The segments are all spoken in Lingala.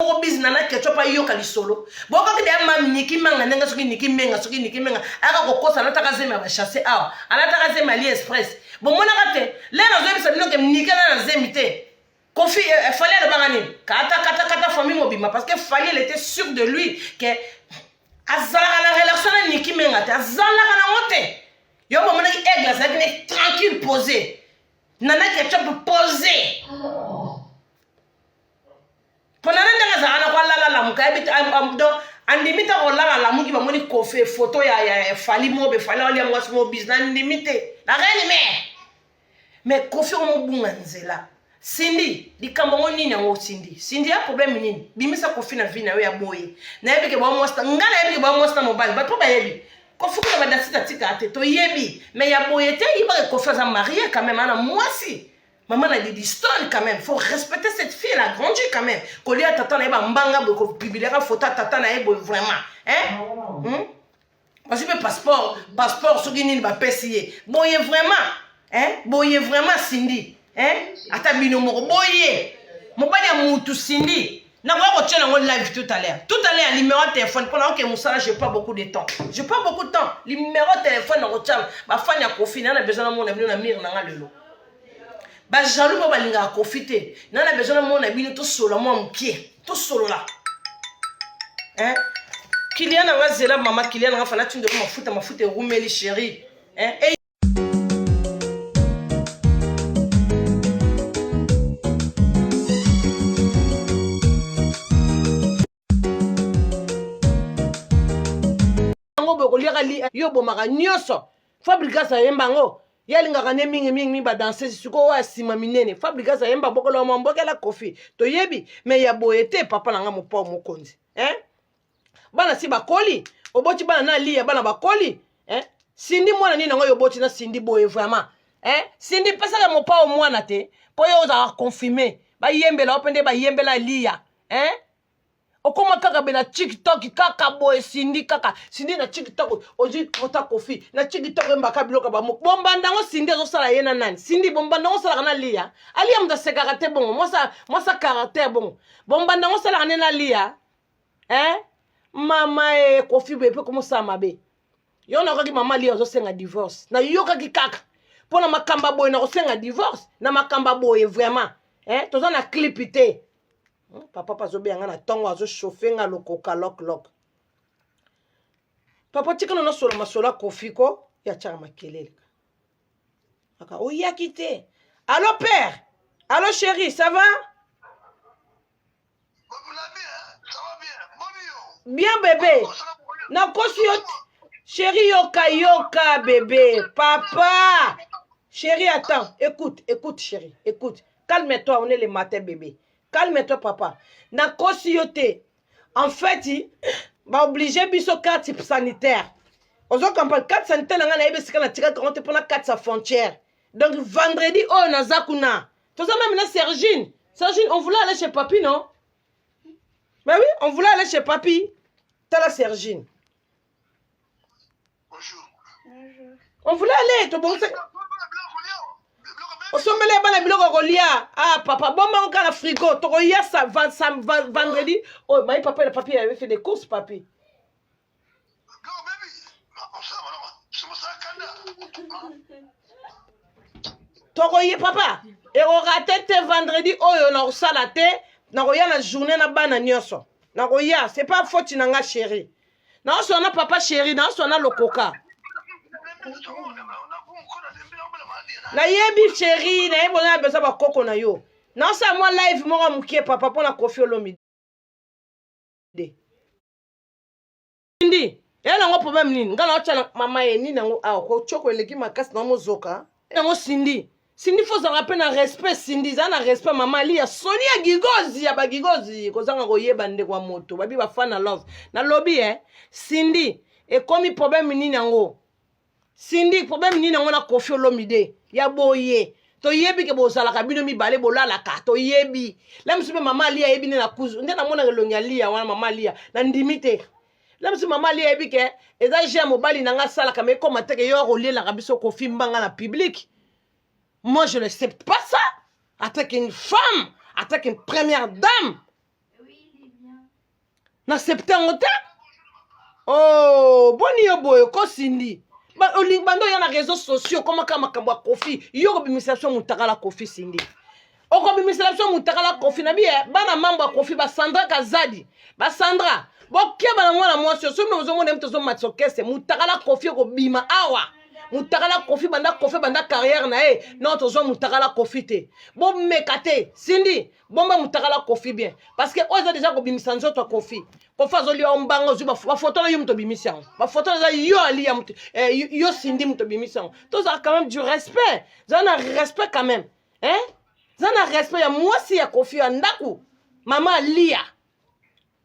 moko bizi na na ketchup ayoka lisolo bokaki deya mami niki manga ndenge soki niki menga soki niki menga ayaka kokosa alataka zemi ya bachasse awa alataka zemi ali express bomonaka te lere azoyebisa bino ke niki aza na zemi te kofi eh, eh, fali alobaka nini kata kata kata famille mobimba parce que fali elle était sûr de lui ke azalaka na relation na niki menga te azalaka nango te yo bomonaki aigle azalaki ne tranquille posé nana ketchup posé oh. mpo na nde ndenge azalaka na kwalala lamuka yebi te andimi te kolala lamuki bamoni kofe foto ya, ya, ya fali mobe fali alia mwasi mobis nandimi te nakanini me me kofi omobunga nzela sindi likambo yango nini yango sindi sindi ya probleme nini bimisa kofi na vi na yo ya boye nayebi ke bamwasita ngai nayebi ke bamwasita mobali bato mpo bayebi kofi kuna badasita tika te toyebi me ya boye te yebaka kofi aza marie quand meme ana mwasi Maman la Lidistone quand même, faut respecter cette fille, elle a grandi quand même. Kolia tata na eba mbanga boy ko publier ka photo tata na eba vraiment. Hein? Hmm? Parce que passeport, passeport soki nini ba pesi ye. Boye vraiment. Hein? Boye vraiment Cindy. Hein? Ata bino moko boye. Mobali ya mutu Cindy. nakoya kotia nango live tout à l'heure tout à l'heure numéro ya téléphone mpo nayoke mosala je pas beaucoup de temps je pas beaucoup de temps numéro ya téléphone nakotia bafani ya kofi naa na besoin namona bino na mire na nga lelo bajalou moko balingaka kofi te na na besoin namona bino tosolola mwa mokie tosolola eh? kilia na nga zela mama kilia na nga fana tindelo mafuta mafuta erumeli sheri eh? yango boye koliaka li yo obomaka nyonso fabrigas ayemba yango ye alingaka nde mingi mingi mingi badansese sikoyo oyo asima minene fabrigas ayemba bokolo ya mambokela kofi toyebi me ya boye te papa na nga mopao mokonzi eh? bana si bakoli oboti bana na liya bana bakoli eh? sindi mwana nini yango yo oboti na sindi boye vraiment eh? sindi pesaka mopao mwana te mpo yo ozalaka confirme bayembela yo mpe nde bayembela liya hein okoma kaka be na tiktok kaka boye sindi kaka sindi na tiktok ozwi kota kofi na tiktok oyembaka biloko ya bamoko bombanda yango sindi azosala ye na nani sindi bombanda yango osalaka na liya aliya moto asekaka te bongo mwasa caractère bongo bombanda yango osalaka nde na liya eh? mama e kofi boye mpe komosala mabe yo nayokaki mama liya ozosenga divorce nayokaki kaka mpo na makambo ya boye nakosenga divorce na makambo ya boye vraiment eh? toza na clip te hmm, papa pa azobeya nga na ntongo azochauffe nga lokoka loklok papa tikana nasola masolo ya kofi ko ya tyaka makelele aka oyaki oh, te allo père allo chéri ça va bien bebe nakosi yo chéri yoka yoka bebe papa Chérie, attends. Écoute, écoute, chérie. Écoute. calme toi on est le matin bebe calme toi papa nakosi yo te en fait baoblige biso carte sanitaire ozo comprendre carte sanitaire na ngai nayebi esika natikaki yango te mpona carte ya frontière donc vendredi oyo naza kuna toza meme na sergine sergine on voulait aller chez papi non mais oui on voulait aller chez papi tala sergine On voulait aller, to bonse. osombela bana biloko kolia ah papa boma ngo kaka frigo tokoya sa vendredi oyo oh, mayi papa na papier ya efe de course papi tokoye papa ekoka te te vendredi oyo nakosala te nakoya na journée na bana nyonso nakoya c'est pas faute na nga chérie naoswana papa sheri naoswana lokoka nayebi sheri nayebi oza na besoin bakoko na yo naosala mwa live moko ya mokie papa mpo na kofi olomide ndi eya nango problème nini ngai naotya na mama ye nini yango awa kocoko eleki makasi na mozoka yango sindi Cindy faut zanga pe na respect Cindy za na respect mama Lia soni ya gigozi ya ba gigozi kozanga koyeba ndeko wa moto babi ba fan na love na lobi eh Cindy ekomi problème nini yango Cindy problème nini yango na Koffi Olomide ya boye toyebi ke bozalaka bino mibale bolalaka toyebi la mosusu mpe mama aliya ayebi nde na kuzu nde namonaka elongi aliya wana mama aliya nandimi te na biso mama ali ayebi ke eza je ya mobali na nga asalaka ma ekoma te ke yo akolielaka biso kofimba nga na publike moi je l'accepte pas ça attaque une femme attaque une première dame nasepte yango te oh boni yo boye okosindi olingi bando oya na réseau sociaux okomaka makambo ya kofi yo kobimisa biso motakala kofi sindi okobimisela biso mutakala kofi na biye bana mambo ya kofi basandra kazadi basandra bokeba na mwana mwasi oyo soki bino bozomona ye moto ozomatisa okese mutakala kofi ekobima awa mutakala kofi banda kofi banda carrière na ye non tozwa mutakala kofi te bomeka te sindi bomba mutakala kofi bien parce que oyo eza deja kobimisa nzoto ya kofi kofi azoliya yo mbanga ozwi bafoto na yo moto obimisi yango bafoto eza yo aliya moto eh, yo sindi moto obimisi yango tozala quand même du respect zala na respect quand même eh? za na respect ya mwasi ya kofi ya ndako mama aliya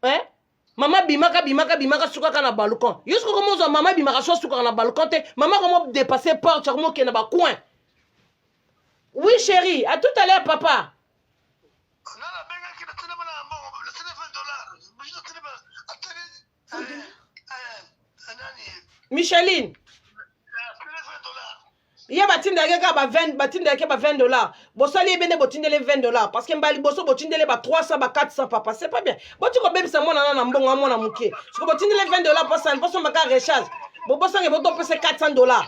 eh? mama bimaka bimaka bimaka sukaka na balcon yo soki okoma ozwa mama bimaka so asukaka na balcon te mama akoma dépasse porte akoma okende bacoin oui chéri à tout à l'heure papa micheline ye batindaki kaka ba 20 batindaki ba 20 dollars bosali ye bene botindele 20 dollars parce que mbala liboso botindele ba 300 ba 400 papa c'est pas bien boti kobebisa mwana na na mbongo amwana moke soko botindele 20 dollars posani posomba kaka recharge bobosange botopesa 400 dollars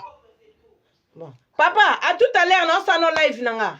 bon papa à tout à l'heure naosala no live na nga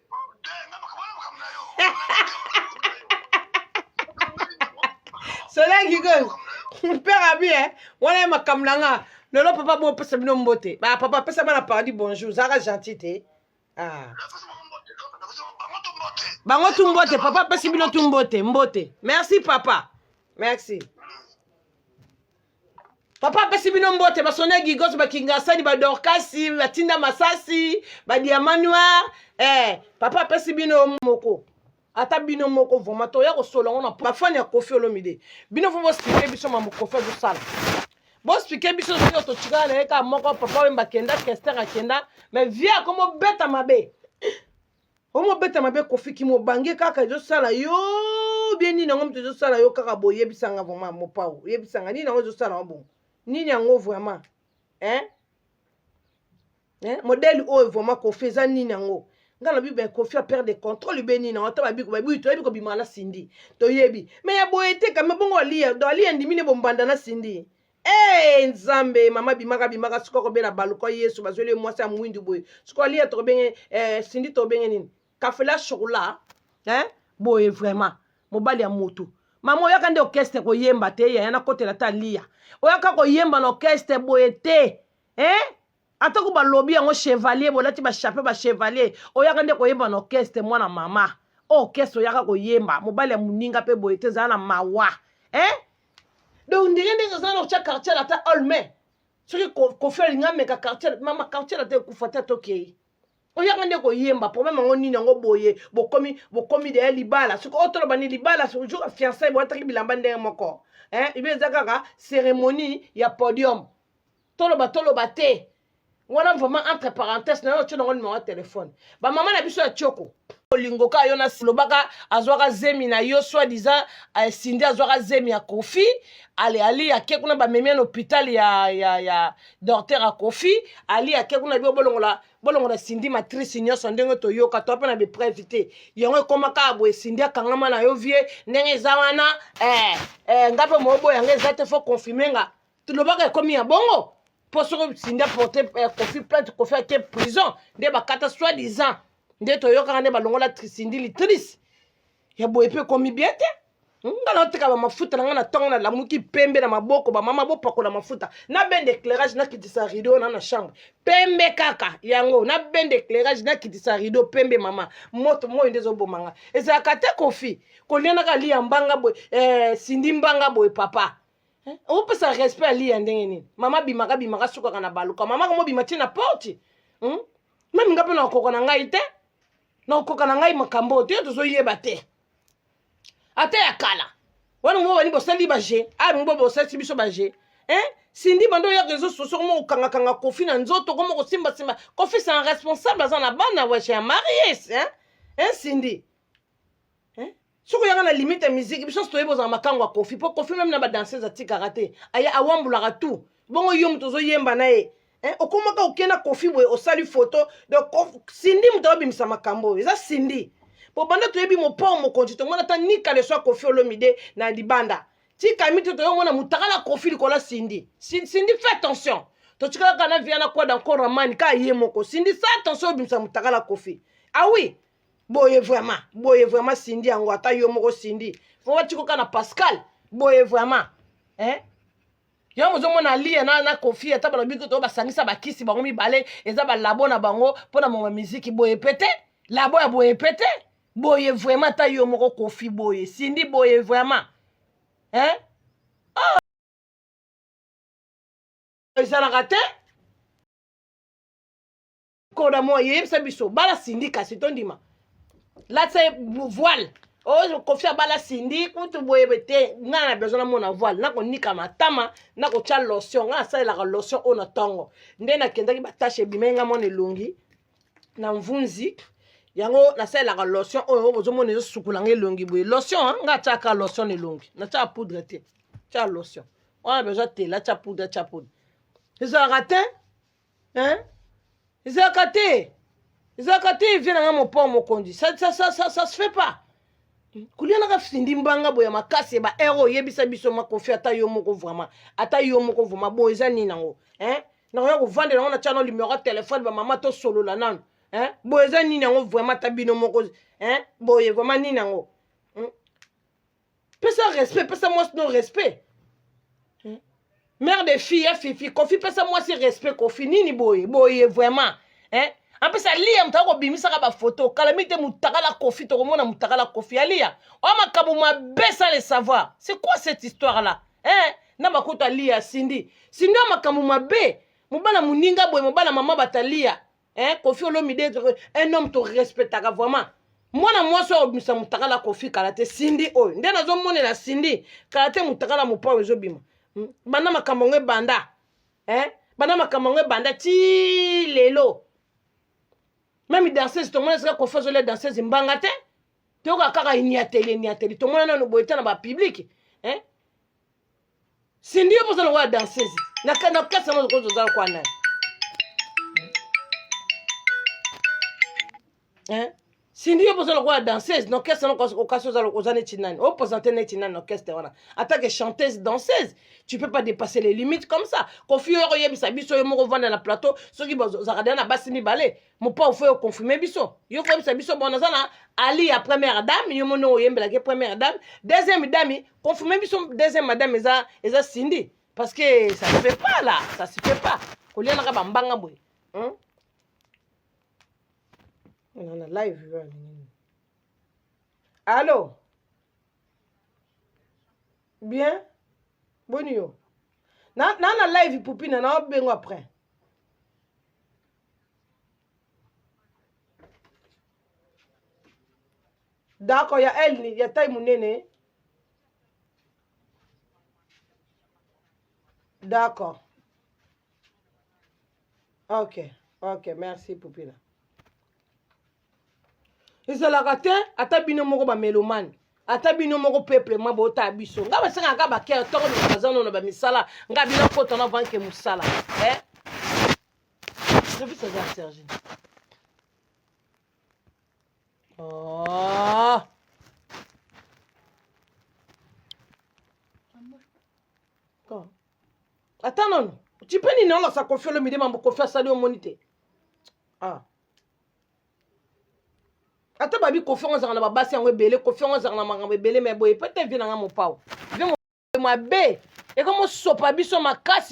soleil kikoyo père abi e wana ye makambo na nga lelo papa bopesa bino mbote ba papa apesa bana paradis bonjour zaka gentil te ah. bango tu mbote papa apesi bino tu mbote mbote merci papa merci papa apesi bino mbote basone gigos bakingasani badorkasi batinda masasi badiama noir eh, papa apesi bino moko ata bino moko vraimen toya kosola yango na bafani ya kofi olomide bino fo bosplike biso mambo kofi azosala bosplike biso soki totikala na ye kaka moko papa wemba akenda kester akenda mais vie akomobeta mabe omobeta mabe kofi kimobange kaka ezosala yo bie nini yango moto ezosala yo kaka boye yebisanga vraiment mopao yebisanga nini yango ezosala yango bongo nini yango vraiment hein? hein? modele oyo vraiment kofi eza nini yango nga na bibi kofi apere de contrôle be nini yango ata babiko babibi toyebi kobima na sindi toyebi me ya boye te kame bongo aliya do aliya ndimi ne bombanda na sindi Hey, nzambe mama bimaka bimaka sikoyo kobela baluka yesu bazweli ye mwasi ya mwindu boye sikoyo aliya tokobenge eh, sindi tokobenge nini kafela chokola eh? boye vraiment mobali ya motu mama oyaka nde orchestre koyemba te yaya nakotela ta liya oyaka koyemba na orchestre boye te eh? atako balobi yango chevalier bolati bachape bachevalier oyaka nde koyemba na orkestre mwana mama orkestre oyaka koyemba mobali ya moninga mpe boye te ezala na mawa eh? donc ndenge ndenge ozala na otya quartier ata olme soki kofi alinga ameka quartier mama quartier ata ekufa te atokei oyaka nde koyemba problème yango nini yango boye bokomi bokomi deya libala soki oyo toloba ni libala jour fiancai boyataki bilamba ndenge moko eh? ibe eza kaka cérémonie ya podium toloba toloba te wana vraiment entre parenthèse nayo otyo nango nimero ya telefone bamama na biso ya tioko olingo ka yo nasilobaka azwaka zemi na yo soit disant eh, sindi azwaka zemi ya kofi ale ali ake kuna bamemi na hôpital ya, ya, ya docteur ya kofi ali ake kuna bio bolongola bolongola sindi matrice nyonso ndenge toyoka to mpe na bepreuve te yango ekoma kaka boye sindi akangama na yo vie ndenge eza wana eh, eh, nga mpe moyoboya nga eza te fo confirme nga tolobaka ekomi ya bongo mpo soki sinde porte eh, kofi plainte kofi ake prison nde bakata soit disant nde toyokaka nde balongola sindi litrice ya boye mpe ekomi bien te nga naoteka bamafuta na ngai na ntongo nalamuki pembe na maboko bamama bopakola mafuta na ben de éclairage nakitisa rideau na na chambre pembe kaka yango na ben de éclairage nakitisa rideau pembe mama moto moi nde ezoboma nga ezalaka te kofi kolianaka liya mbanga boye eh, sindi mbanga boye papa eh, opesa respect ya liya ndenge nini mama bimaka bimaka sukaka na baluka mama komo bima tie na porte hmm? meme nga mpe nakokoka na ngai te nakokoka na ngai makambo oyo te yo tozoyeba te ata ya kala wana mo bani bosali baje ayi mo bosalisi biso baje eh? sindi bando oya réseau sociaux koma kokangakanga kofi na nzoto koma kosimbasimba kofi c'est un responsable aza na bana weshe ya maries hein? hein, sindi soki oyaka na limite ya miziki biso nyonso toyebi ozala makango ya kofi mpo kofi meme na badanseuse atikaka te aya awambulaka tout bongo yo moto ozoyemba na ye eh, okomaka oke na kofi boye osali foto donc sindi moto abimisa makambo oyo eza sindi mpo banda toyebi mopao mokonzi tomona ata nika leso ya kofi olomide na libanda tika mito toyomona motakala kofi likolo ya sindi sindi fait attention totikalaka na viana kwada encore ramani ka ye moko sindi sa attention obimisa motakala kofi ah oui boye vraiment boye vraiment sindi yango ata yo moko sindi fo watikoka na pascal boye vraiment eh? yango ozomona lia na, na kofi ata balobi kutu basangisa bakisi bango mibale eza balabo na bango mpo na moma miziki boye pe te labo ya boye pe te boye vraiment ata yo moko kofi boye sindi boye vraiment eh? oh. ezalaka te koda moye yebisa biso bala sindi kasi tondima latisa ye voile oyo kofi abala sindi kutu boyebe te ngai na besoin namona voile nakonika matama nakotya lotion ngai nasalelaka lotion oyo na ntongo nde nakendaki batashe ebimai ngai mwana elongi na mvunzi yango nasalelaka lotion oyo bozomona ezosukula ngai elongi boye lotion ngai atyaka lotion na elongi natyaka poudre te tya lotion wana besoin tela tya poudre tya poudre ezalaka te hein ezalaka te ezalaka te vie na nga mopao mokonzi ça, ça, ça, ça, ça se fait pas kolia naka findi mbanga boya makasi ba hero oyebisa biso makofi ata yo moko vraiment ata yo moko vraiment boye eza nini yango hein nakoya kovandela yango na tya no limero ya telefone bamama tosolola nano hein boye eza nini yango vraiment ata bino moko hein boye vraiment nini yango pesa respect pesa mwasi no respect hmm? mère de fille ya fifi kofi pesa mwasi respect kofi nini boye boye vraiment eh? apesa aliya moto akobimisaka bafoto kala mingi te motakala kofi tokomona motakala kofi aliya oyo makambo mabe sa le savoir c'est quoi cette histoire là eh? na bakutu aliya sindi sindi oyo makambo mabe mobala moninga boye mobala mama bataliya eh, kofi olomide un homme torespectaka vraiment mwana mwasi oyo obimisa motakala kofi kala te sindi oyo nde nazomonela sindi kala te motakala mopao ezobima hmm? banda makambo yango ebanda eh? banda makambo yango ebanda ti lelo meme danseuse tomona esika kofi azolia danseuse mbanga te toyoka kaka iniateli iniateli tomona nano boye te na bapiblike eh? Cindy yo poza lokola danseuse na na kati na mozo oza lokola nani hein Cindy yo poza lokola danseuse na orchestre na okasi oza oza neti nani o présenter neti nani na orchestre wana ata que chanteuse danseuse tu peux pas dépasser les limites comme ça kofi yo oyebisa biso yo moko vanda na plateau soki bazalaka deja na basi mibale mopao fo oconfirme biso yo koyebisa biso bon naza na ali ya première dame yo moni oyembelaki première dame deuxième dame confirme biso deuxième madame eza eza sindi parce que ça se fait pas là ça se fait pas kolianaka bambanga boye hmm? na live yo alingi allo bien boni yo na na live pupina naobengo après dako ya elni ya tai monene d'accord ok ok merci pupila ezalaka te ata bino moko bamelomane ata bino moko peuple mwa bota biso nga basengaka kaka bakere toko baza nono bamisala nga bino kota na vanke mosala eh? Service aza Serge. Oh. Quand? Attends non. Tu peux ni non là ça confie le midi mambo confie ça au monité. Ah. Ata babi confie on zanga na babasi yango ebele confie on zanga na makambo ebele mais boye peut-être vie na nga mopao. Vie mabe. Ekomo sopa biso makasi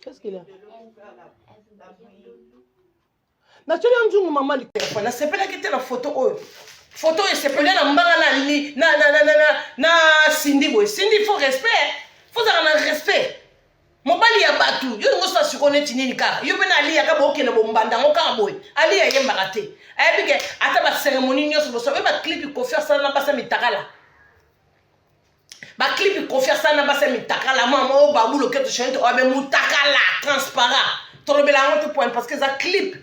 Qu'est-ce qu'il a natyoli yo nzungu mama likolo nasepelaki te na foto oyo foto oyo esepeli na mbanga na sindi boye sindi fo respect fozala na respect mobali ya bato yo lingo osa siko neti nini kaka yo mpe na aliya kaka bokende bombanda yango kaka boye aliya ayembaka te ayebi ke ata baseremoni nyonso bosala oyo baclipi kofi asala na basi ya mitakala ba clip kofi asala na basi ya mitakala mwa moko babu loketo chanete oyo abe mutakala transparent tolobela yango te point parce que eza clip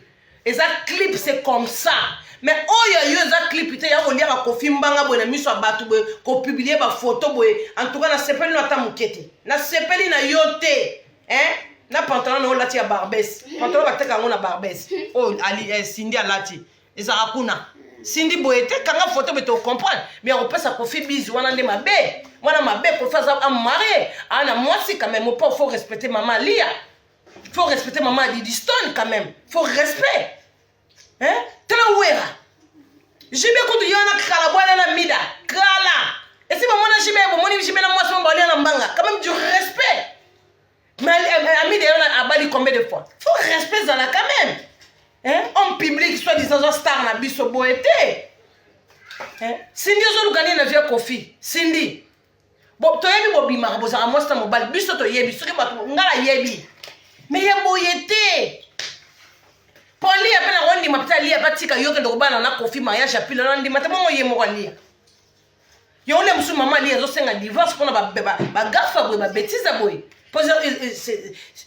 eza clip c'est comme ça me oyo yo eza clip te ya kolia bakofi mbanga boye na miso ya bato boye kopublie bafoto boye antuka nasepeli no ata moke te nasepeli na yo te eh? na pantalon na yo olati ya barbes pantalon bateka yango na barbes oyo oh, ali eh, sindi alati ezalaka kuna sindi boye te kanga foto boye tocomprendre mais akopesa kofi bizu wana nde mabe mwana mabe kofi aza amarie aa na mwasi quand même opo faut respecter mama alia faut respecter mama adidistone quand même faut respect hein? tala wera jibe kutu ye wana kala bwana na mida kala esi bamona jibe bomoni jibe na mwasi mo balia na mbanga quand même du respect Mais euh, Ami d'ailleurs a bali combien de fois Faut respect dans la quand même. Hein? Homme public, soit disant un star na biso boete. Hein? Cindy ozo lugani na vieux Kofi. Cindy. Bon, toi yebi bobimaka bozala mwasi na mobali biso toyebi soki bato nga nayebi me ye boye te mpo aliya mpe nango ndima mpe aliya mpe atika yoke ndokobana na kofi mariage ya pilo na ndima te bongo ye moko aliya yango nde mosusu mama ali azosenga divorce mpona bagafa boye babetiza boye mpo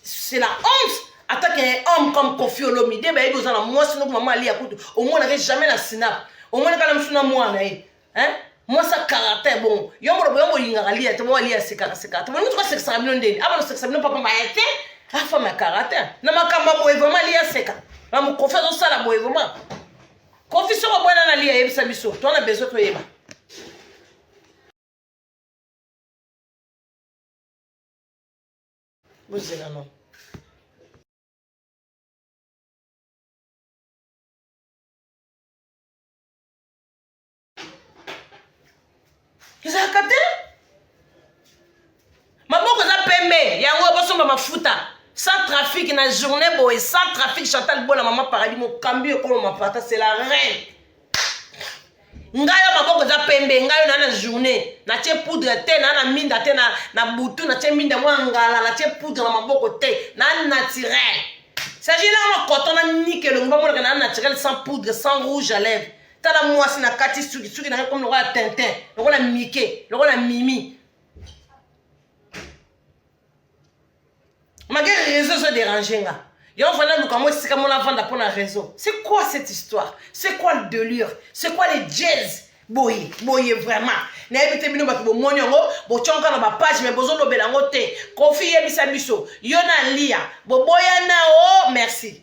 c'est la honte ata ke homme comme kofi olomide bayebi oza na mwasi noko mama ali ya kutu omonake jamais na sinap omonaka na mosusu na mwana ye mwasi ya caractère bongo yo molobo yo molingaka liya te bo aliya asekaka sekaka te bolingi tuka sekisaka bino ndeni abana sekisa bino papa maye te afama ya caractère na makambo ya boye vraiment aliya aseka na mokofi azosala boye vraiment kofi soko bwana na liya yebisa biso to na besoin toyeba bozela no ezalaka te maboko eza pembe yango bosomba mafuta sans trafic na journée boye sans trafic chantal bola mama paradis mokambi ekolo mapata c'est la reine ngai yo maboko eza pembe ngai yo naa na journée natye poudre te naa na minda te na butu natye minda mwa ngala natye poudre na maboko te naa naturel sagilama koto na nike elongi bamonaka naa naturel sans poudre sans rouge à lèvre tala mwasi na kati suki suki na ngai komi lokola tintin lokola mike lokola mimi mage réseau ezo dérange nga yo vanda luka mwa esika mona vanda mpo na réseau c'est quoi cette histoire c'est quoi le delure c'est quoi les jazz boye boye vraiment nayebi te bino bato bomoni yango botyonka na bapage me bozolobela yango te kofi yebisa biso yo na lia boboyana o oh, merci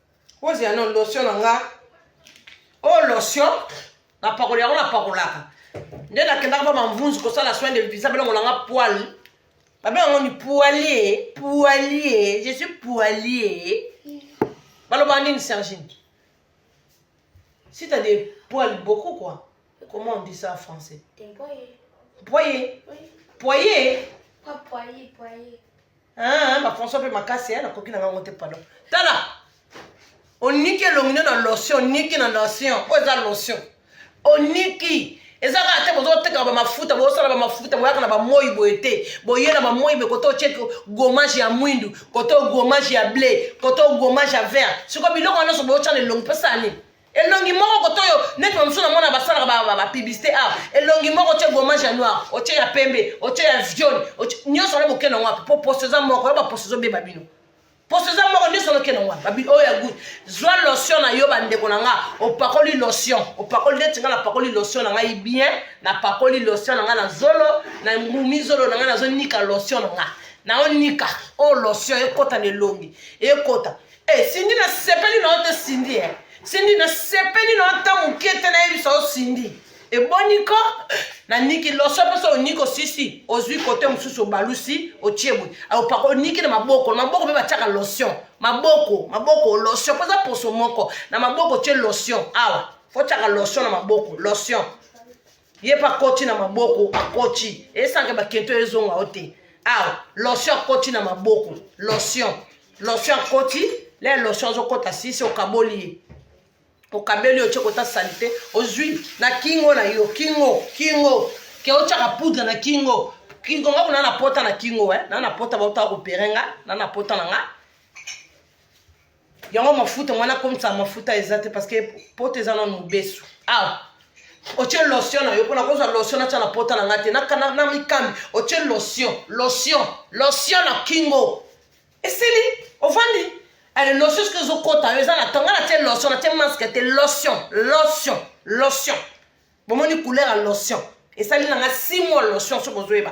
ozela no lotion na nga o oh, lotion napakola yango napakolaka nde nakendaka mpo mamvunzu kosala soin de visa belongo na nga poile babenga ngo ni poilie poilie je suis poilie baloba nini sergine si t'as des poils beaucoup quoi comment on dit ça en français poye poye poye Ah, ba François pe makasi hein, nakoki na ngango te pardon. Tala. Oniki elongi na lotion, oniki na lotion, oyo eza lotion. Oniki eza kaka te bozoteka bamafuta bosala bamafuta boyaka na bamoi boye te boye na bamoi boye koto otie gomage ya mwindu koto gomage ya ble koto gomage ya vert sikoyo biloko wana nyonso boyotya na elongi mposa nini elongi moko koto oyo neti bamosusu na mona basalaka bapiblisite a ah, elongi moko otye gomage ya noir otye ya pembe otye ya viole nyonso wana bokenda ngo wapi mpo poso eza moko yo baposo ezobeba bino poso eza moko nyonso wana okenda ngo wapi oyo ya gut zwa lotion na yo bandeko na nga opakoli lotion opakoli neti nga napakoli lotion na ngai bien napakoli lotion na nga na zolo na ngumi zolo na nga nazonika lotion na nga naonika oyo oh, lotion ekota na elongi ekota Hey, eh, Cindy nasepeli na yo te Cindy eh. Cindy nasepeli na yo ata moke te nayebisa yo Cindy eboni ko na niki loso mpe so oniki osisi ozwi kote mosusu obalusi otie boye opaka oniki na maboko na maboko mpe batiaka lotion maboko maboko lotion mpo eza poso moko na maboko otie lotion awa fotiaka lotion na maboko lotion ye mpe akoti na maboko akoti esanke bakento ezonga o te awa lotion akoti na maboko lotion lotion akoti le lotion azokota sisi okaboli ye okabeli yo tyekota salite ozwi na kingo na yo kingo kingo ke otyaka poudre na kingo kingo nga kuna na pota na kingo eh? na na pota bautaka kopere nga na na pota na nga yango mafuta mwana akomisa mafuta eza te parce que poto eza nano mobesu awa ah! otie lotion na yo mpona kozwa lotion natya na pota na ngai te na mikambi otie lotion lotion lotion na kingo esili ovandi ale lotion soki ezokota yo eza na tonga na tie lotion na tie maske te lotion lotion lotion bomoni couleur ya lotion esali nanga si mwa lotion soki ozoyeba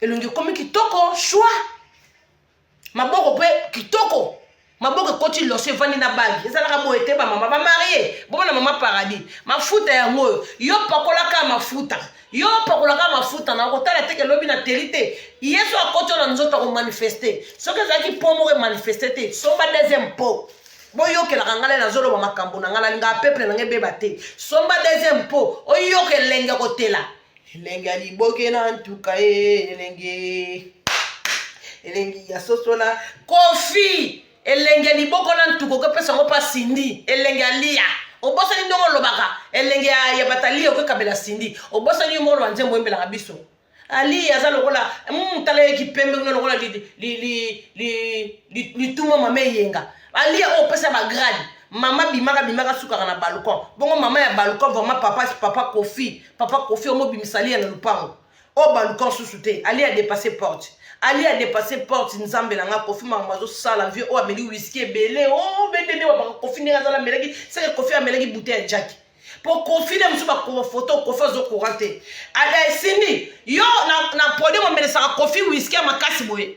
elongi ekomi kitoko shwa maboko mpe kitoko maboko ekoti loso evandi na bagi ezalaka boye te bamama bamarie bomona mama paradis mafuta yango oyo yo pakolaka mafuta yo pakolaka mafuta na kotala teke lobi na teli te yesu akoti yo na nzoto akomanifeste soki ezalaki mpo moko emanifeste te somba deuxième mpo boyokelaka ngai nazoloba makambo na ngai nalingaa peuple na ngai ebeba te somba deuxième mpo oyoka elenge kotela elengi ya liboke na ntuka e elengi elengi ya soso na kofi elengi ya liboko na ntuka okopesa yango mpa sindi elengi ya liya obosani ndongo olobaka elengi ya bataliya okokabela sindi obosani yo mokolo banzembo oyembelaka biso aliya aza lokola hmm, tala ye kipembe kuna lokola lituma mama eyenga aliya oyo opesa bagrade mama bimaka bimaka sukaka na balcon bongo mama ya balcon vraiment papa papa kofi papa kofi omobimisa aliya na lupango oyo baluka nsusu te aliya adepasse porte aliya adepasse porte nzambe na nga kofi makambo azosala vie oyo ameli wiski ebele o oh, bendende babaka kofi ndenge azala amelaki seke kofi amelaki bute ya jaki mpo kofi nde mosusu bakoma foto kofi azokora te esindi yo na podium omelesaka kofi wiski ya makasi boye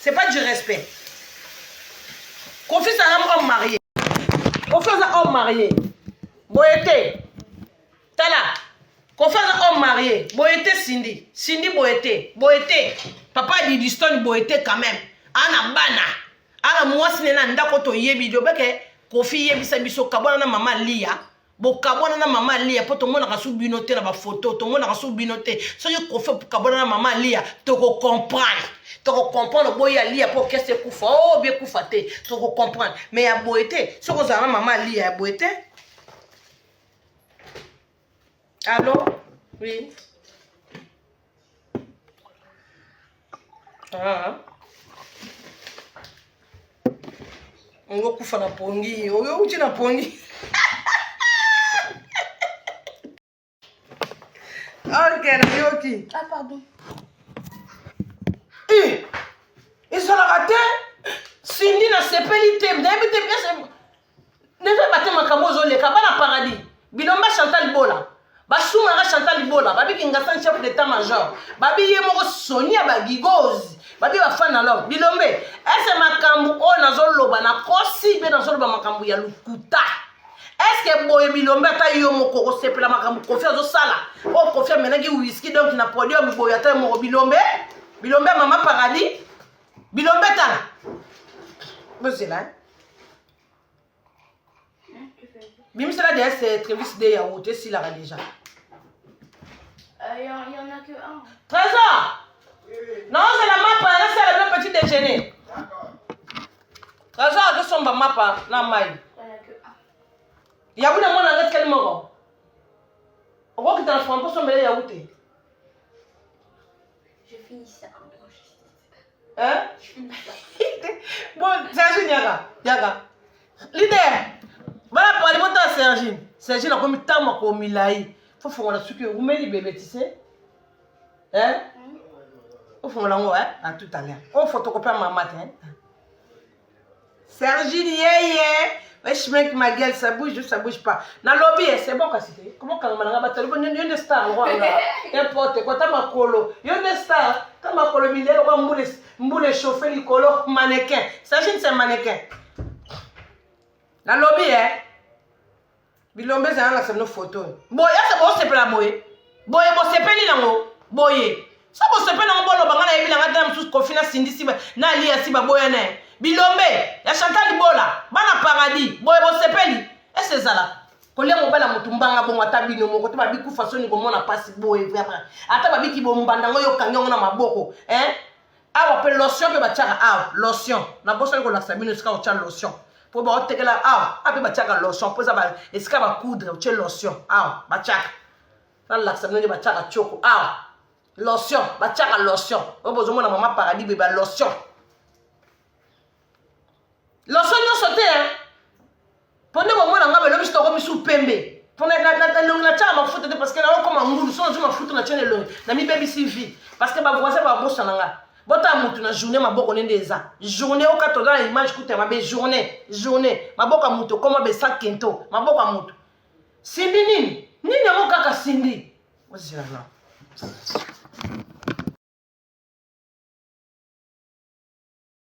C'est pas du respect. Kofi c'est un homme marié. Kofi c'est un homme marié. Boyete. Tala. Kofi c'est un homme marié. Boyete Cindy. Cindy Boyete. Boyete. Papa Didiston Boyete quand même. Ana bana. Ana mwasi nena ndako to yebi. Dobeke. kofi yebisa biso kabwana na mama liya bokabwana na mama aliya mpo tomonaka su bino te na bafoto tomonaka su bino te soki kofi okabwana na mama aliya tokokomprendre tokokomprendre boyi aliya mpo kese ekufa o oh, biekufa te tokokomprendre me ya boye te soki ozala na mama aliya ya boye te alo oui Ah. Ngo kufa na pongi. Oyo uchi na pongi. Okay, na yoki. Ah pardon. Eh. Ezalaka te. Cindy na sepeli te. Nayebi te bien Neve bate makambo ozoleka bana paradis bilomba Chantal Bola basumaka Chantal Bola babi kingasan chef d'état major babi ye moko soni ya bagigozi babi bafani na love bilombe ese makambo oyo nazoloba na kosi mpe nazoloba makambo ya lokuta eske boye bilombe ata yo moko okosepela makambo kofi azosala oyo oh, kofi amenaki wiski donk na podium boye ata yo moko bilombe bilombe ya mama paradis bilombe tala bozela eh? bimisela deya se trevis de yaourt esilaka deja trésor naozela mapa nasala bino petit déjeuner trésor azosomba mapa na mai yabu na mwana nga tikali moko okokita na franc osombela yawu te hein bon sergine yaka yaka leader bana pali botala sergine sergine akomi ntango makolo milai fo fongola suki omeli bebe ti se hein ofongola yango hein à tout à l'heure ofotokope ya mama te hein Sergine yeye wesh mec ma gueule ça bouge ou ça bouge pas nalobi ye c'est bon kasi te comment kanga malanga batali ko yo nde star wanga n'importe quoi ta makolo yo nde star ta makolo milelo kwa mbule mbule chauffer likolo mannequin Sergine c'est mannequin nalobi ye bilombe eza nanga seno foto oyo boye ese bosepela boye boye bosepeli nango boye so bosepeli nango boloba nga nayebi nanga tena mosusu kofi nasindisi na aliya si baboya na ye bilombe ya chantal libola bana paradis boye bosepeli ese ezalaka kolia mobala motu mbanga bongo ata bino moko te babikufa soni komona mpasi boye vraimen ata babiki bombanda ngo yo okangi yango na maboko eh? awa mpe lotion mpe batiaka awa lotion nabosani kolakisa bino esika otya lotion mpo baotekela awa a mpe batiaka lotion mpo eza esika bacoudre otye lotion awa batiaka nalakisa bino nde batiaka tioko awa lotion batiaka lotion oyo bozomona mama paradis beba lotion loso nyonso te mpo nde bomona ngai belobi sitoko misu pembe mpo elongi natyaka mafuta te parceke naokoma ngulu so nazwi mafuta natya na elongi namibebisi vie parceke bavoisin babosana ngai botala motu na journée maboko nde nde eza journée okata oza na image kuta mabe journée journée maboko ya motu okoma besa kento maboko ya motu simbi nini nini yango kaka simbi ozela na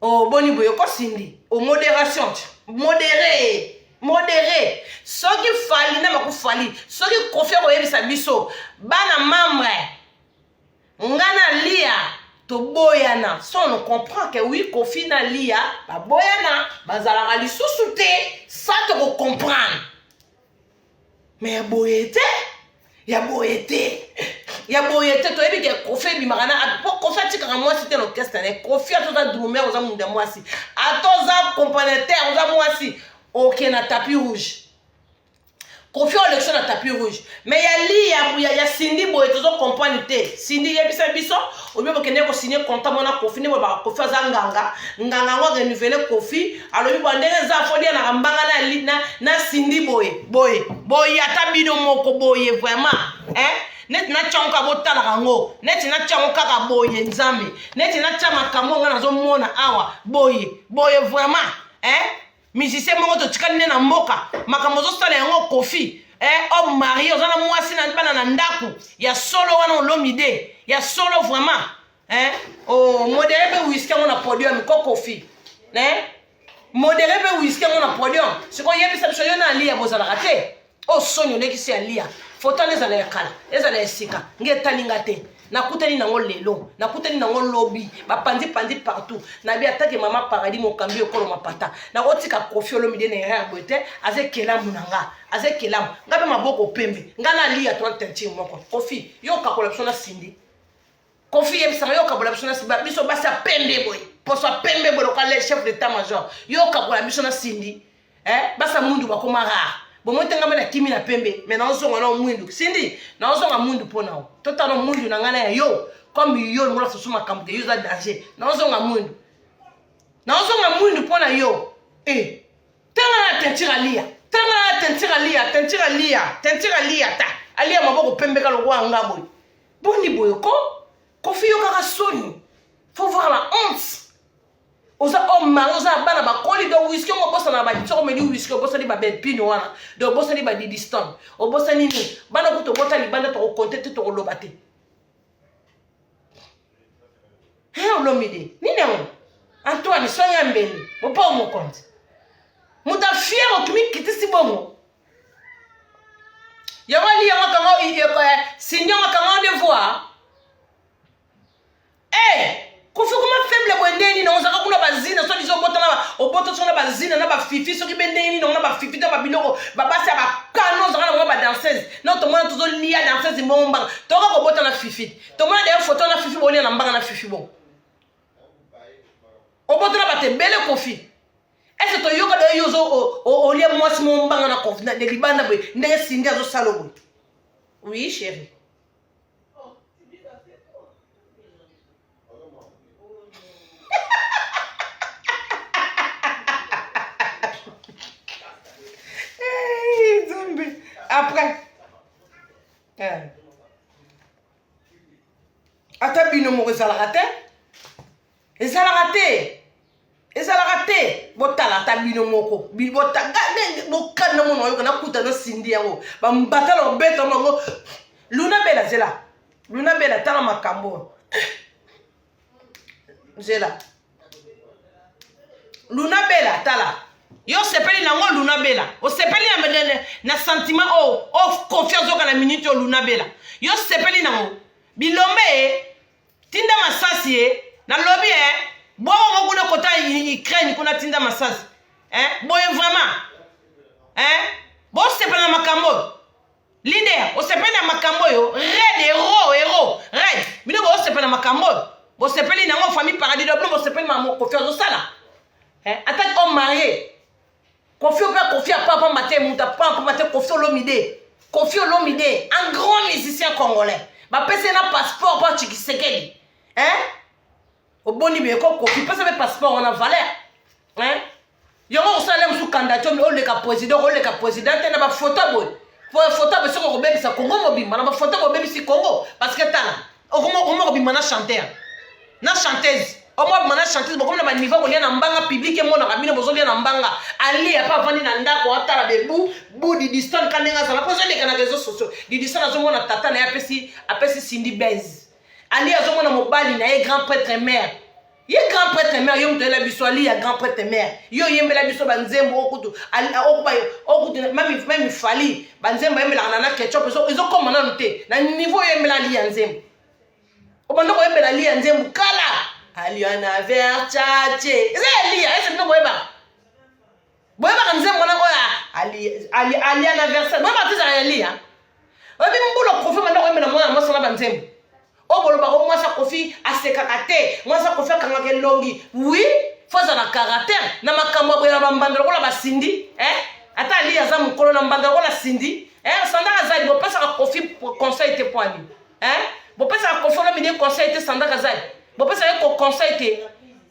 oh boni boye ko Cindy au moderation modere modere soki fali na maku fali soki kofi akoyebisa biso bana membre nga na lia toboyana so on comprend ke wi kofi na lia baboyana bazalaka lisusu te sa tokocomprendre me ya boye te ya boye te ya boye te toyebi ke kofi ebimaka na po kofi atikaka mwasi te na orchestre ne kofi ata oza drumer oza mundu ya mwasi ata oza componateur oza mwasi oke na tapis rouge kofi olekso na tapis rouge me ya li ya, ya, ya sindi boye tozo comprendre te sindi yebisa biso obi bokende kosigne conta mwana kofi nde bolobaka kofi aza nganga nganga yango arenuvele kofi alobi boye ndenge eza afodi alaka mbanga na, na sindi boye boye boye ata bino moko boye vraiment eh? neti natya yango kaka botalaka yango neti natya yango kaka boye nzambe neti natya makambo yango nazomona awa boye boye vraiment eh? musicien moko totikali nde na mboka makambo ozosala yango kofi eh, homme marie oza na mwasi na bana na ndako ya solo wana olomide ya solo vraiment hein oh modere mpe whisky yango na podium ko kofi hein modere mpe whisky yango na podium sikoyo yebisa biso yo na aliya bozalaka te o oh, soni olekisi aliya foto wana ezala ya kala ezala ya sika nge etali nga te nakutani nango lelo nakutani nango lobi bapanzi panzi partout nabi atake mama paradis mokambi ekolo mapata nakotika kofi olomide na erreur boye te aza ekelamu na nga aza ekelamu nga mpe maboko pembe nga naliya to tentire moko kofi yo okakola biso na sindi kofi yebisaka yo okabola biso na biso basi ya pembe boye poso ya pembe boye lokola le chef d'état major yo okabola biso na sindi eh? basi ya mundu bakoma rare bomotengama na kimi na pembe me naozonga nao mwindu sindi naozonga mwindu mpo na yo totala mwindu na ngai na ya yo comme yo longola susu makambo te yo oza danger naozonga mwindu naozonga mwindu mpo na yo e eh, tanga na tentire aliya tanga na tentire aliya tentire aliya tentire aliya ta aliya maboko pembeka lokola nga boye boni boye ko kofi yo kaka soni faut voir la honte oza homme oh, mari oza na bana bakoli donc wiski ongo obosana na badisoko omeli wiski obosani babelpino wana donc obosani badidiston obosani nini bana kutu obota libanda tokokonte te tokoloba te he olomide nini yango antoine soya mbeli bopo mokonzi moto afiere okimi kitisi bongo yango aliya makambo sindio makambo de voir eh, kofi kuma faible boye ndenge nini ozalaka kuna bazina soki biso obotana obota soki na bazina na bafifi soki be ndenge nini na bafifi to babiloko babasi ya bakano ozalaka na mwa badanseuse no tomona tozolia danseuse mbongo mbanga toka kobota na fifi tomona deye foto na fifi bolia na mbanga na fifi bongo obotana bato ebele kofi est ce que toyoka da yo ozo olia mwasi mo mbanga na confina de libanda boye ndenge sindi azosala boye oui chéri nzambe après eh. ata bino moko ezalaka te ezalaka te ezalaka te botala ata bino moko bokani na mona oyoka nakuta na sindi yango bambatala obeta bango luna bela zela luna bela tala makambo zela luna bela tala yo osepeli nango luna bela osepeli na, na, na, na sentiment oyo oh, o oh, confiance oyoka na minute oyo luna bela yo osepeli nango bilombe tinda masasi ye na lobi eh bongo ngo kuna kota Ukraine kuna tinda masasi eh boye vraiment eh bo sepela makambo leader osepeli na makambo oyo red hero hero red bino bosepela na makambo oyo bosepeli nango famille paradis do bino bosepeli mamokofi azosala eh, ata o marie Kofi ope kofi a papa mate muta papa mate kofi olomide kofi olomide un grand musicien congolais bapese na passeport mpo chikisekeli hein oboni beko kofi pesa mpe passeport wana valeur hein yango kosala mosusu kandatiomi oleka président oleka président te na bafoto boye po foto boye soki okobebisa congo mobimba na bafoto bobebisi congo parce que tala okoma okoma kobima na chanteur na chanteuse omo abima na chanteuse bokomi na baniveau kolia na mbanga publike emonaka bino bozolia na mbanga alie apa avandi na ndako atala bebu bu didistan ka ndenge azala mpo ezoleka na réseau sociaux didistan azomona tata na ye apesi apesi sindi base alie azomona mobali na ye grand prêtre mare ye grand prêtre mère yo moto oyela biso ali ya grand prêtre mère yo oyembela biso banzembo okutu okuba okutu meme fali banzembo ayembelaka na na ketchup ezokoma nanu te na niveau oyembela ali ya nzembo obanda koyembela ali ya nzembo kala aliana verchache eza ya liya ese bino boyebaka boyebaka nzembo wana oyo alia na verse boyebaka te ezalaka ya lia oyebi mbula kofi manda koyembela mwana mwasi wana banzembo oyo bolobaka o mwasi akofi asekaka te mwasi akofi akangaka elongi wi fo azala na karatere na makambo ya boyela bambanda lokola basindi eh? ata ali aza mokolo na mbanda lokola sindi eh? sandaka azali bopesaka kofi conseil te poani eh? bopesaka kofi olomide conseil te sandaka azali bopesaka ye ko conseil te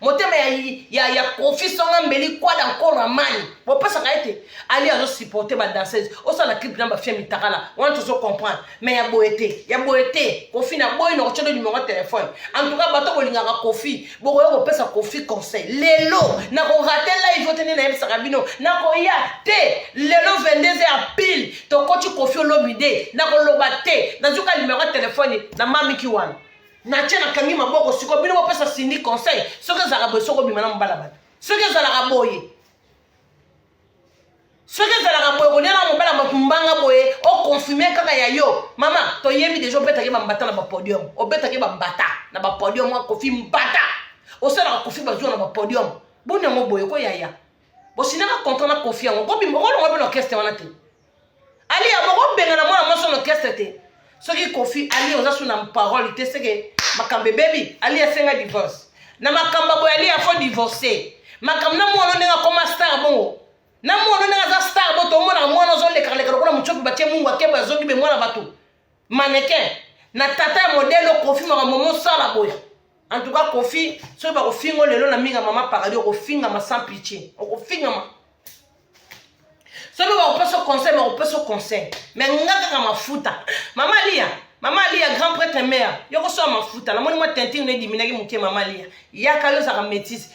motema ya, ya, ya kofi songa mbeli kwada nkolo amani bopesaka ete ali azosupporte badanseuse osala clip na bafia mitakala wana tozo comprendre mais ya boye te ya boye te kofi na boyi na kotyodo nimero ya telefone antuka bato bolingaka kofi bokoya kopesa kofi conseil lelo nakorate live ote nde nayebisaka bino nakoya te lelo 22 heure pile tokoti kofi olobi de nakoloba te nazuka nimero ya telefone na mamiki wana natie nakangi maboko siko bino bopesa sindi conseil soki ezalaka boye soki obima na mobala bato soki ezalaka boye soki ezalaka boye kolia na mobala bato mbanga boye okonfirme kaka ya yo mama toyebi deja obetaki bambata na bapodium obetaki bambata na bapodium akofi mbata osalaka kofi bazuwa na bapodium boni yango boye ko yaya bosinaka contrat na kofi yango kolonga bino orchestre wana te Aliya boko bengana mwana mwasi ono orchestre te. Soki Kofi Ali oza sous na parole te seke makambo ebebi. Ali asenga divorce. Na makambo boye Ali afo divorcer. Makambo na mwana ndenge akoma star bongo. Na mwana ndenge aza star bo tomona mwana ozo leka leka lokola muchopi batie mungu akeba zongi be mwana bato. mannequin na tata ya modele okofi maka momo osala boya en tout cas kofi soki bakofinga o lelo na minga mama paradis okofingama sans pitie okofingama soki bakopesa conseil bakopesa conseil mais nga kaka mafuta mama liya mama aliya grand prêtre mare yo kosala mafuta namoni mwa tintin no ediminaki moke mama aliya yaka yo ozalaka métise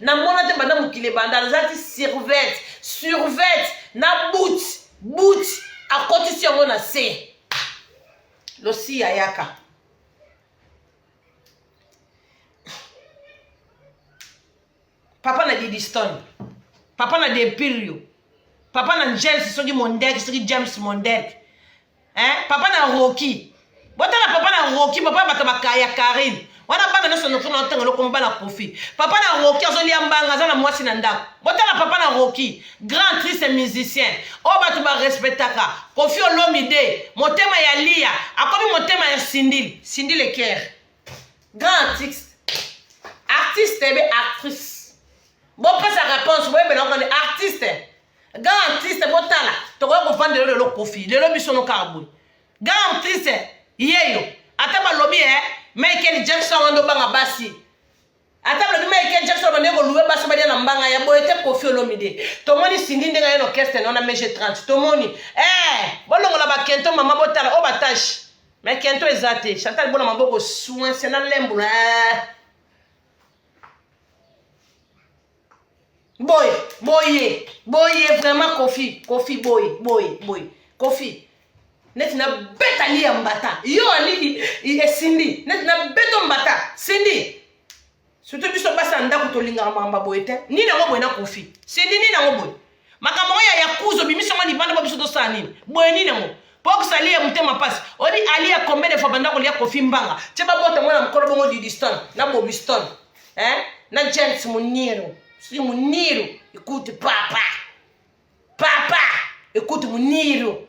na mona te banda mokili ebanda nazalaki survet survet na but but akotisi yango na se losi ayaka papa na didiston papa na dempirio papa na james soki mondek soki james mondek hein? papa na roki botala papa na roki papa bato bakaya karine wana bana nyonso nokuna otanga lokomo bana kofi papa na roki azolia mbanga aza na mwasi na ndako botala papa na roki grand triste musicien oyo bato barespectaka kofi olomide motema ya liya akomi motema ya sindili sindili ekere grand artiste artiste ebe actrice bopesa réponse boyebela okani artiste grand artiste botala tokoya kovanda lelo lelo kofi lelo biso no kaka boye grand artiste yeyo ata balobi e eh, michael jackson wana nde obanga basi ata balobi michael jackson bande koluwe basi balia na mbanga ya boye te kofi olomide tomoni sindi ndenge aye orchestre naona mg 30 tomoni e eh, bolongola bakento mama botala oyo batashe me kento eza te chantal bona maboko soinse na lembo na eh. boye boye boye vraiment kofi kofi boye boye boye kofi neti nabeta liya mbata yo aliki esindi neti nabeto mbata sindi surtout biso basi ya ndako tolingaka makambo boye te nini yango boye na kofi sindi nini yango boye makambo yango ya yakuza obimisi yango libanda po biso tosala nini boye nini yango po kozali ya motema mpasi oyebi ali ya combien de fois banda kolia kofi mbanga tye babota mwana mokolo bongo didiston na bobiston eh? na james muniru si muniru ekuti papa papa ekuti muniru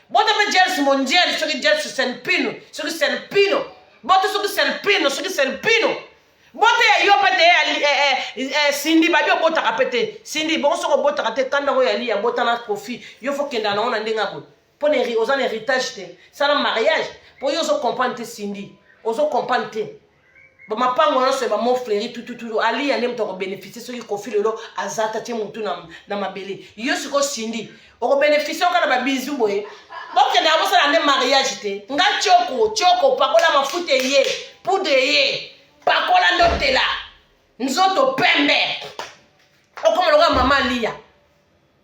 bota mpe jels mondial soki jels selpino soki selpino bota soki selpino soki selpino bota ya yo mpe te eh, eh, eh, sindi babi obotaka mpe te sindi bongo soki obotaka te kanda oyo yali ya bota na kofi yo fo kendaka nango na ndenge ya boye mpo na oza na héritage te sala mariage mpo yo ozo comprendre te sindi ozo comprendre te bamapango nyonso ya bamo fleri tututu aliya nde moto akobeneficie soki kofi lelo aza ta tie motu na, na mabele yo sikoyo sindi okobeneficie oka na babizu boye bokendaka bosala nde mariage te nga tioko tioko pakola mafuta eye poudre eye pakola nde otela nzoto pembe okoma lokola mama aliya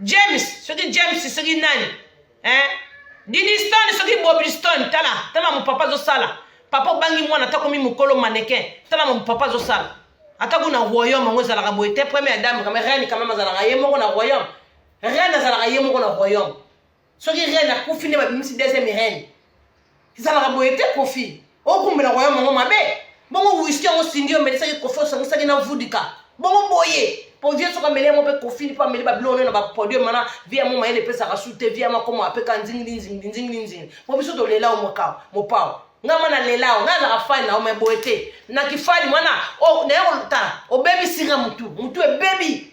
james soki james soki nani eh? diniston soki bobliston tala tala mamu papa azosala papa obangi mwana ata komi mokolo manekin tala mamu papa azosala ata kuna royaume yango ezalaka boye te première dame kame reine kameme azalaka ye moko na royaume reine azalaka ye moko na royaume soki reine akufi nde babimisi deuxième reine ezalaka boye te kofi okumbela koya mongo mabe bongo wiski yango sindi yo omelisaki kofi osangisaki na vudika bongo boye po vie soki ameli yango mpe kofini mpo ameli babiloko na bapodium wana vie yango mayele epesaka su te vie yango akoma apeka nzingilinzingilinzingilinzini mpo biso tolela o mokao mopao ngai mwana lela o ngai azaka fani na yo mai boye te na kifani mwana naye koluta obebisika motu motu ebebi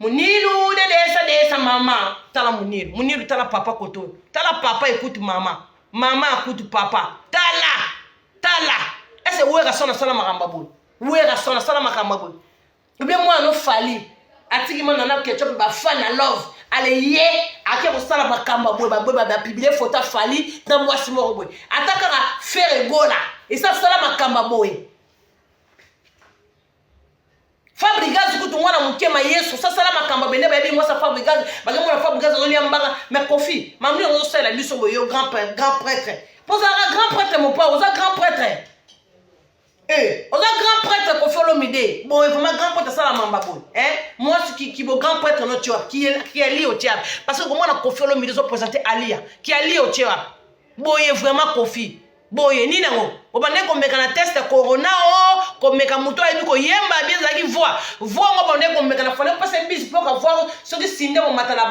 munilu de desa desa mama tala munilu munilu tala papa koto tala papa ekutu mama mama akutu papa tala tala ese werrason asala makambo boye werrason asala makambo boye obie mwana ofali atiki mwana na ketchup bafana love ale ye ake kosala makambo boye baboye bapiblie foto afali na mwasi moko boye ata kaka fere gola esi asala makambo boye Fabrigaz kutu mwana moke ma yesu sasala makambo abende bayebi mwasa fabrigaz bakemona fabrigaz azolia mbanga ma kofi mamni yango ozosalela biso boyo grand grand prêtre mpo ozalaka grand prêtre mopao oza grand prêtre eh, oza grand prêtre kofi olomide boye vraimen grand prêtre asala mamba boye eh, mwasi kibo grand prêtre notie wapi kiali otie wapi parce que komona kofi olomide ozopresente alia kiali otie wapi boye vraimen kofi boye nini yango obandaki komeka na test ya corona o oh, komeka moto ayebi koyemba bi ezalaki voi voi yango obandaki komeka na fale opesa biso mpo ka voi soki sinde momata na